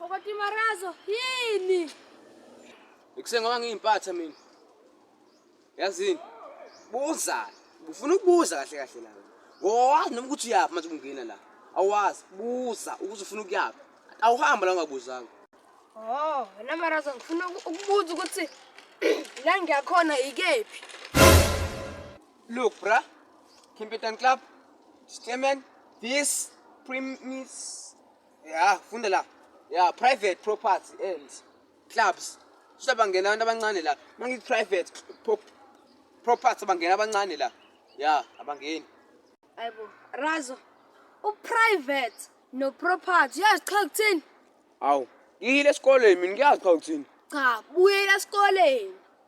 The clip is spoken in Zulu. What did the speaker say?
Okoti marazo yini? Ekuseni ngoba ngiyimpatha mina. Yazini? Buza. Ufuna ukubuza kahle kahle la. Ngowazi noma ukuthi uyaphi manje ungena la. Awazi buza ukuthi ufuna ukuyaphi. Awuhamba la ungabuzanga. Oh, wena marazo ngifuna ukubuza ukuthi la ngiyakhona ikephi? Look, bruh. Kimpetan Club. Stemen. This premise ya funda la ya private property and clubs shuthi bangena abantu abancane la uma ngithi private pro- property bangena abancane la ya abangeni Ayibo. Razo. Uprivate no property. Uyazi cha kuthini? awu ngiyile esikoleni mina ngiyazi cha ukuthini Cha, buyela esikoleni.